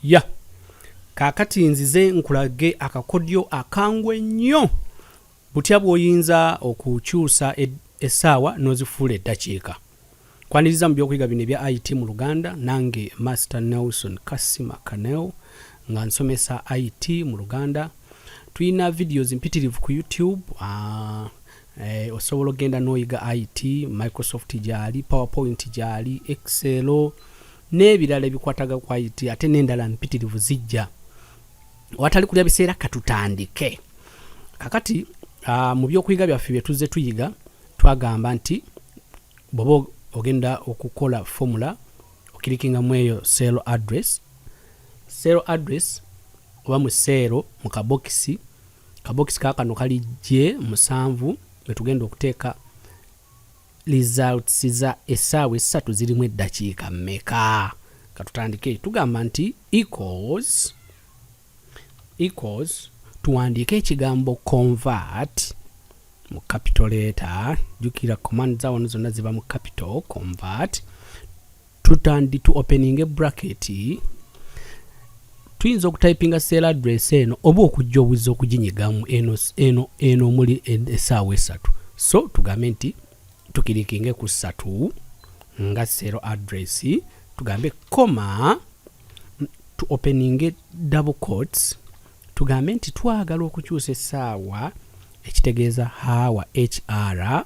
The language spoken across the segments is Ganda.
ya kakati nzize nkulage akakodyo akangu ennyo butya bwoyinza okukyusa essaawa n'ozifuula eddakiika kwaniriza mu byokuyiga bino ebya it mu luganda nange master nelson kasima kanel nga nsomesa it mu luganda tulina videos mpitirivu ku youtube uh, eh, osobola okugenda n'oyiga it microsoft gyali powerpoint gyali excel n'ebirala ebikwataga ku it ate n'endala mpitirivu zijja watali kulya biseera katutandike kakati uh, mu byokuyiga byaffe bye tuzze tuyiga twagamba nti bwoba ogenda okukola formula okirikinga mu eyo sel address sel address oba mu seero mu kabokisi kabokisi kakano kali je musanvu bwetugenda okuteeka results za essaawa essatu zirimu eddakiika mmeka katutandike tugamba nti equals equals tuwandiike ekigambo convert mu capital letter jukira command za wano zonna ziba mu capital convert tutandi tu opening a bracket tuyinza okutypinga sale address eno oba okujja obuzza okuginyigamu eno eno eno omuli esaawa esatu so tugambe nti tukirikinge ku satu nga sale address tugambe koma tu opening double coats tugambe nti twagala okukyusa esaawa ekitegeeza haawa hr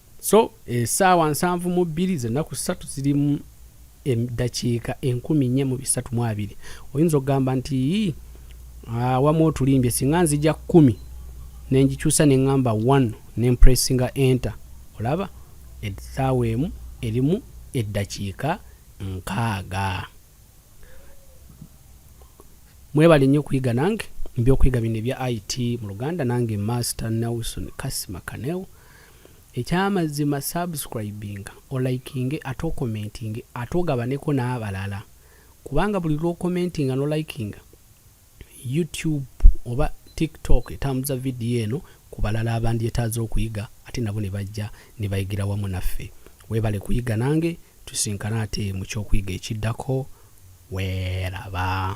so esaawa eh, nsanvu mu bbiri zenaku satu zirimu eddakiika enkumi nye mu bisatu mu abiri oyinza okugamba nti awamu ah, otulimbye singa nzija kumi nengikyusa neŋamba one nempressinga enter olaba esaawa emu erimu eddakiika nkaaga mwebale nnyo okuyiga nange mbyokuyiga bino ebya it mu luganda nange master nelson kasima kaneo ekyamazima subscribinga olikinge ate okomentinge ate ogabaneko n'abalala kubanga buli lwokomentinga nolikinga youtube oba tiktok etambuza vidiyo eno ku balala abandyetaaze okuyiga ate nabo ne bajja ne bayigira wamu naffe weebale kuyiga nange tusinkana ate mu kyokuyiga ekiddako weeraba